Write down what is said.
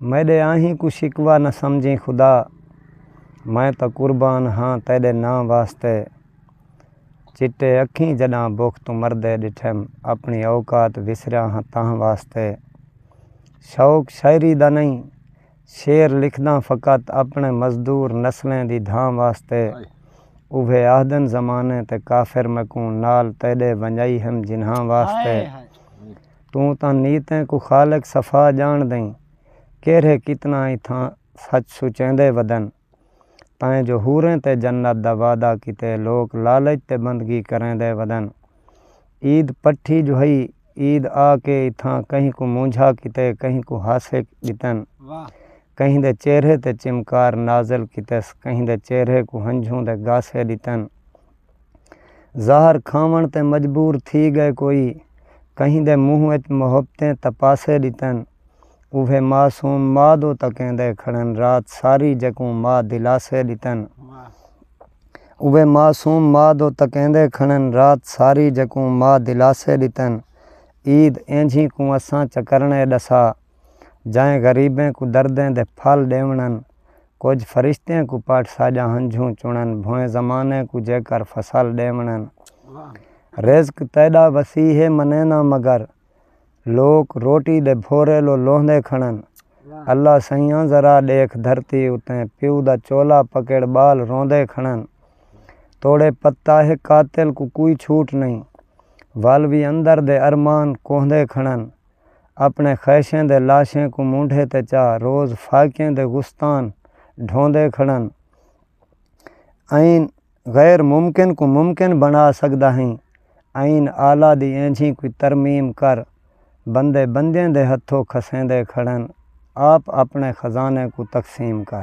میڈے آہیں کوں شکوہ نہ سمجھیں خدا میں تاں قربان ہاں تیڈے ناں واسطے چٹے اکھیں جڈاں بکھ توں مردے ڈٹھم اپنی اوقات وسریا ہاں تاں واسطے شوق شاعری دا نہیں شعر لکھداں فقط اپنے مزدور نسلیں دی دھاں واسطے اوہے آہدن زمانے تے کافر میکوں نال تیڈے ونجائی ہم جنہاں واسطے توں تاں نیتیں کوں خالق صفا جان دئیں کیرھے کتنا ای تھاں سچ سچیندے ودن تاں جو حوریں تے جنت دا وعدہ کیتے لوک لالچ تے بندگی کریندے ودن عید پٹھی جو ہئی عید آ کے ای تھاں کہیں کوں مونجھا کیتے کہیں کوں ہاسے ڈتن کہیں دے چہرے تے چمکار نازل کیتس کہیں دے چہرے کوں ہنجھوں دے گاسے ڈتن۔ زہر کھاوݨ تے مجبور تھی ڳئے کوئی کہیں دے منہ وچ محبتیں تپاسے ݙتن اوہ معصوم ما دو تکیندے کھڑن رات ساری جکوں ما دلاسے ݙتن اوہ معصوم ما دو تکیندے کھڑن رات ساری جکوں ما دلاسے ݙتن عید اینجھی کوں اساں چکرݨے ݙسا جئیں غریبیں کوں دردیں دے پھل ݙیوݨن۔ کجھ فرشتیں کوں پٹ ساجا ہنجھوں چنن بھوئیں زمانے کوں جے کر فصل ڈے ونن رزق تیڈا وسیع ہے منے نہ مگر لوک روٹی دے بھورے لو لوندے کھنن اللہ سئیاں ذرا ڈیکھ دھرتی اتیں پیو دا چولا پکڑ بال روندے کھنن توڑے پتا ہے قاتل کوں کوئی چھوٹ نہیں ول وی اندر دے ارمان کوہندے کھنن۔ اپݨے خیشیں دے لاشیں کوں مونڈھے تے چا روز فاقیں دے گستان ڈھوندے کھڑن ایں غیر ممکن کوں ممکن بنا سکدا ہیں ایں آلہ دی اینجھی کوئی ترمیم کر بندے بندیں دے ہتھوں کھسیندے کھڑن آپ اپݨے خزانے کوں تقسیم کر